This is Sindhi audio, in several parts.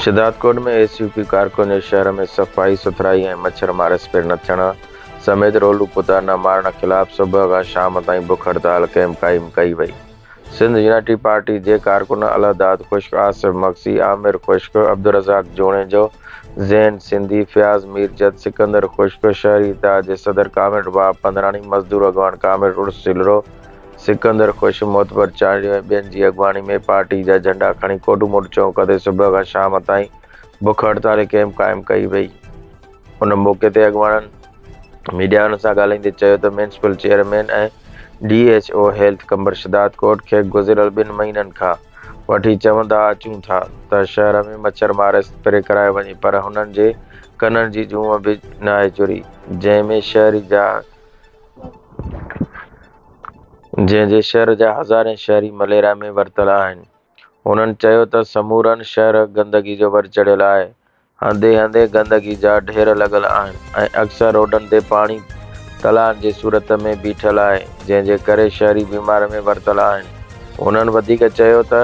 شھدادڪوٽ ۾ ايس يو پي ڪارڪن جي شھر ۾ صفائي سٿرائي ۽ مڇر مار اسپري نه ٿيڻ سميت رولو ڪتا نه مارڻ خلاف صبح کان شام تائين بک هڙتال ڪئمپ قائم ڪئي وئي. سنڌ يونائٽي پارٽي جي ڪارڪن الهداد خشڪ، آصف مگسي، عامر خشڪ، عبدالرزاق جوڻيجو، زين سنڌي، فياض ميرجد، سڪندر خشڪ، شهري اتحاد جي صدر ڪامريڊ وهاب پنڌراڻي، مزدور اڳواڻ ڪامريڊ عرس سلرو، سڪندر خشڪ، معتبر چانڊيو ۽ ٻين جي اڳواڻي ۾ پارٽي جا جهنڊا کڻي ڪوڊوموڊ چونڪ تي صبح کان شام تائين بک هڙتال ۽ ڪئمپ قائم ڪئي وئي. ان موقعي تي اڳواڻن ميڊياوارن سان ڳالهائيندي چيو ته municipal chairman ۽ D H O health Qambar Shahdadkot کي گذريل ٻن مهينن کان وٺي چوندا اچون ٿا ته شهر ۾ مڇر مار اسپري ڪرائي وڃي پر هنن جي ڪنن جي جونء به ناهي چري جنهن ۾ شهري جا جنهن جي شهر جا هزارين شهري مليريا ۾ ورتل آهن هنن چيو ته سمورن شهر گندگي جو ور چڙهيل آهي هنڌين هنڌين گندگي جا ڍير لڳل آهن ۽ اڪثر روڊن تي پاڻي تلائن جي صورت ۾ بيٺل آهي جنهن جي ڪري شهري بيمار ۾ ورتل آهن. هنن وڌيڪ چيو ته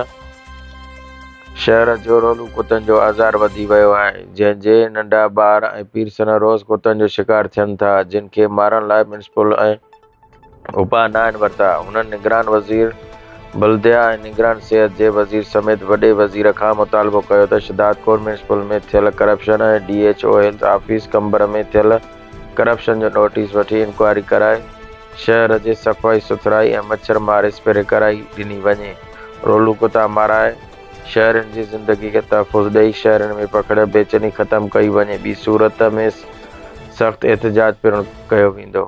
شهر جهڙولو ڪتن جو آزار وڌي ويو آهي جنهن جي ننڍا ٻار ۽ پيرسن روز ڪتن جو شڪار ٿين ٿا جن کي مارڻ لاء ميونسپل ۽ اپاء ناهن ورتا. هنن نگران وزير بلديه ۽ نگران صحت جي وزير سميت وڏي وزير کان مطالبو ڪيو ته شھدادڪور ميونسپل ۾ ٿيل corruption ۽ D H O health office Qambar ۾ ٿيل ڪرپشن جو نوٽيس وٺي انڪوائري ڪرائي شهر جي صفائي سٿرائي ۽ مڇر مار اسپري ڪرائي ڏني وڃي رولون ڪتا مارائي شهرين جي زندگي کي تحفظ ڏئي شهرين ۾ پکڙيل بيچيني ختم ڪئي وڃي ٻي صورت ۾ سخت احتجاج پڻ ڪيو ويندو.